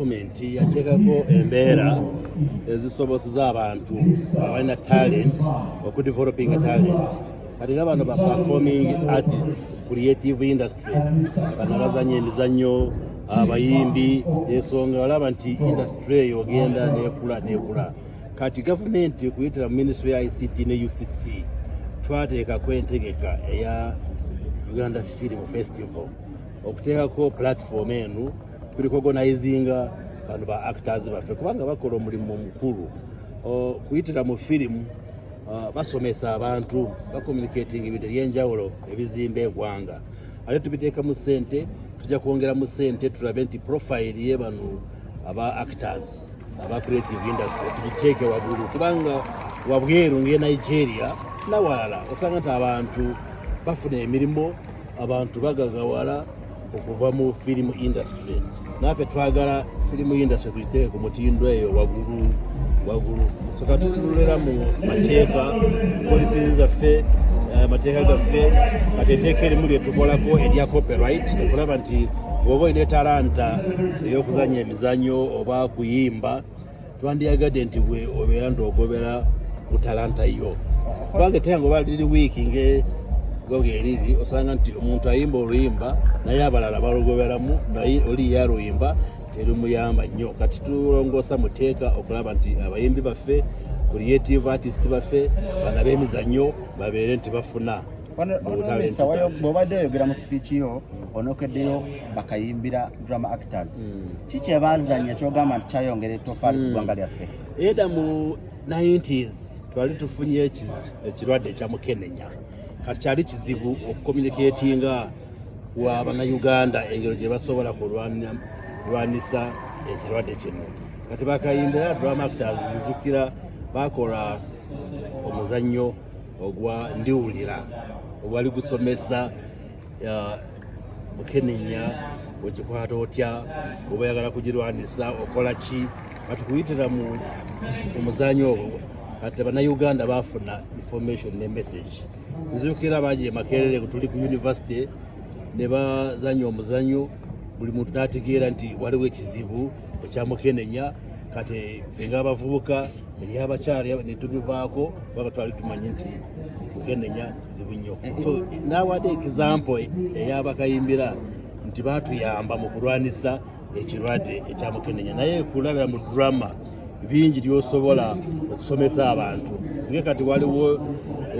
gavumenti yateekako embeera ezisobozesa abantu abalina talent okudevelopinga talent kati nga bano baperforming artists creative industry bano bazanya emizannyo abayimbi ensonga olaba nti industry eyo ogenda nekula nekula kati gavumenti okuyitira mu ministry ya ict ne ucc twateekako entegeka eya uganda film festival okuteekako platform eno kuli kuoganizinga bantu ba actors baffe kubanga bakola omulimu omukulu kuyitira mu firimu uh, basomesa abantu bacommunicating ebintu ebyenjawulo ebizimba egwanga ate tubiteeka mu sente tujja kwongera mu sente tulabe nti profile ye bano aba actors aba creative industry tugiteeke wagulu kubanga wabweru nge nigeria nawalala osanga nti abantu bafuna emirimu abantu bagagawala okuva mu firimu industry naffe twagala firimu industry tuyiteeke ku mutindo eyo wagulu wagulu soka tutululera mu mateeka polisi zaffe eh, amateeka gaffe kati eteeka erimu lyetukolako erya copyright okulaba nti woba olina etalanta eyokuzanya emizanyo oba kuyimba twandiyagadde nti bwe obeera nti ogobera ku talanta yo kubanga eteyango oba liri wiiki nge goga eriri osanga nti omuntu ayimba oluyimba naye abalala balugoberamu naye oli yaluyimba terimuyamba nnyo kati tulongoosa muteeka okulaba nti abayimbi baffe creative artists baffe bana b'emizannyo babeere nti bafuna bwobadde oyogera mu sipiiki yo onokeddeyo bakayimbira drama actors hmm. ki kyebazanya kyogamba nti kyayongera etofaali ku hmm. ggwanga lyaffe era mu 90s twali tufunye ekirwadde ekya mukenenya kati kyali kizibu okukomuniketinga wa bannayuganda engero gye basobola kulwanisa ekirwadde kino kati bakayimbira drama actors njukira bakola omuzannyo ogwa ndiwulira ogwali gusomesa mukenenya okikwata otya oba yagala kugirwanisa okola ki kati kuyitira mu omuzanyo ogwo kati banauganda bafuna information ne message nzukira bangi emakerere tuli ku university ne bazanya omuzanyo buli muntu nategeera nti waliwo ekizibu ekyamukenenya kati fe nga abavubuka eryabakyala netubivaako baba twali tumanyi nti mukenenya kizibu nnyo eh, eh. so nawade example eyabakayimbira nti batuyamba mu kulwanisa ekirwadde ekyamukenenya naye kulabira mu drama bingi lyosobola okusomesa abantu nge kati waliwo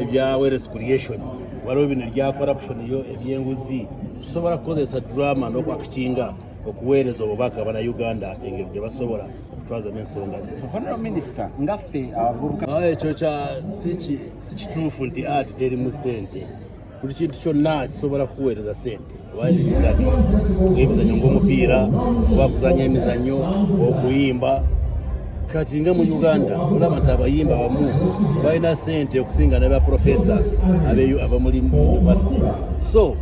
ebya weres creation waliwo bino ebya corruption yo ebyenguzi tusobola kukozesa drama nokwakikinga okuweereza obubaka bana uganda engeri gye basobola okutwazamu ensonga zezo ekyo kya siki si kituufu nti ati teri mu sente buli kintu kyonna kisobola kukuweereza sente obaeri emizanyo ngaemizanyo ngaomupiira oba kuzanya emizanyo okuyimba kati nga mu uganda olaba nti abayimba abamu balina sente okusinga nabaprofesa abeyo abamulimu university so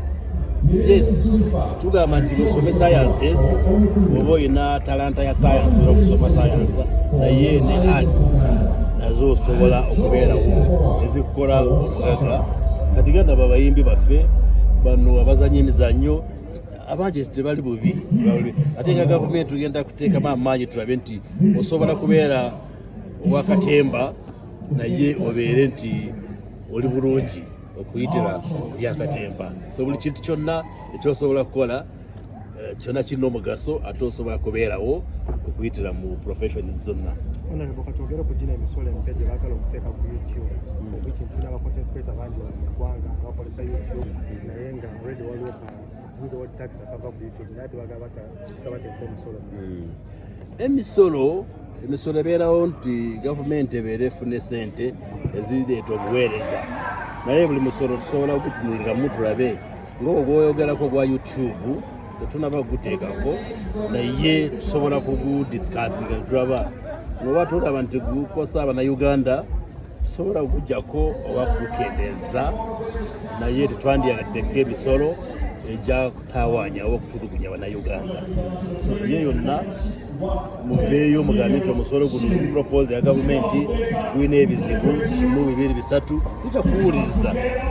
Yes, tugamba nti musome sciences oba olina talanta ya science oba okusoma science naye ne arts nazo osobola okubeerawo ezikukola obugaga kati ganda babayimbi baffe bano abazanya emizanyo abangi tebali bubi ate nga gavumenti tugenda kuteekamu amaanyi tulabe nti osobola kubeera owakatemba naye obeere nti oli bulungi okuyitira byakatemba so buli kintu kyonna ekyosobola kukola eh, kyonna kirina omugaso ate osobola kubeerawo okuyitira mu profession zonna katwogere ku gina emisolo empya gye baagala okuteeka ku youtube ekintu hmm. nabacontent creator bangi mu ggwanga abakozesa youtube naye nga already waliwo Hmm. emisolo emisolo ebeerawo nti gavumenti ebeera efuna esente ezireeta obuweereza naye buli musolo tusobola okutunuliramu tulabe ngaogwo gwoyogerako ogwa youtube tetunaba kuguteekako naye tusobola kugudisikasinga netulaba noba tulaba nti gukosa abanauganda sobola okujjako oba kukendeeza naye tetwandyaddeko emisolo ejja kutawanya oba okutulugunya banauganda so ye yonna muveeyo mugambe nti omusolo guno propose ya gavumenti gulina ebizibu kimu bibiri bisatu tujja kuwuliriza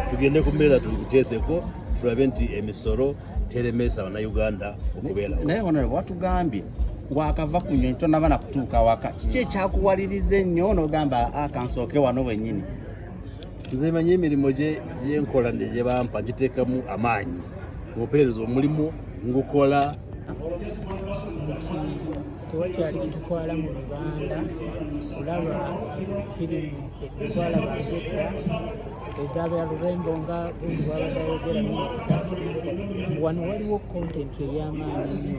tugende ku mbeera tubiteeseko tulabe nti emisolo teremesa bannayuganda okubeerawo naye onore watugambye wakava ku nyonyi tonaba na kutuuka waka kiki ekyakuwaliriza ennyo nogamba akansooke ah, wano wenyini nze manyi emirimu gyenkola gyebampa giteekamu amaanyi opeereza omulimu ngukola tewakyali kitutwala mu lubanda kulaba firimu etutwala bagedda ezaabera lurembo nga bwabadayogera minisita wano waliwo kontenti ey'amaanyi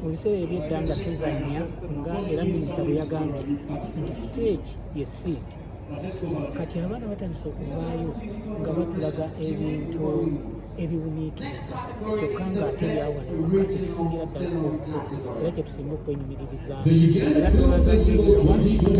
mu biseera ebyedda nga tuzanya nga era minisita bwe yagambye nti siteegi ye siiti kati abaana batandise okuvaayo nga batulaga ebintu ebiwuniikiriza kyokka ng'ate byawanaakisingira ddala era kyetusinga okwenyumiririzaamu era tulaza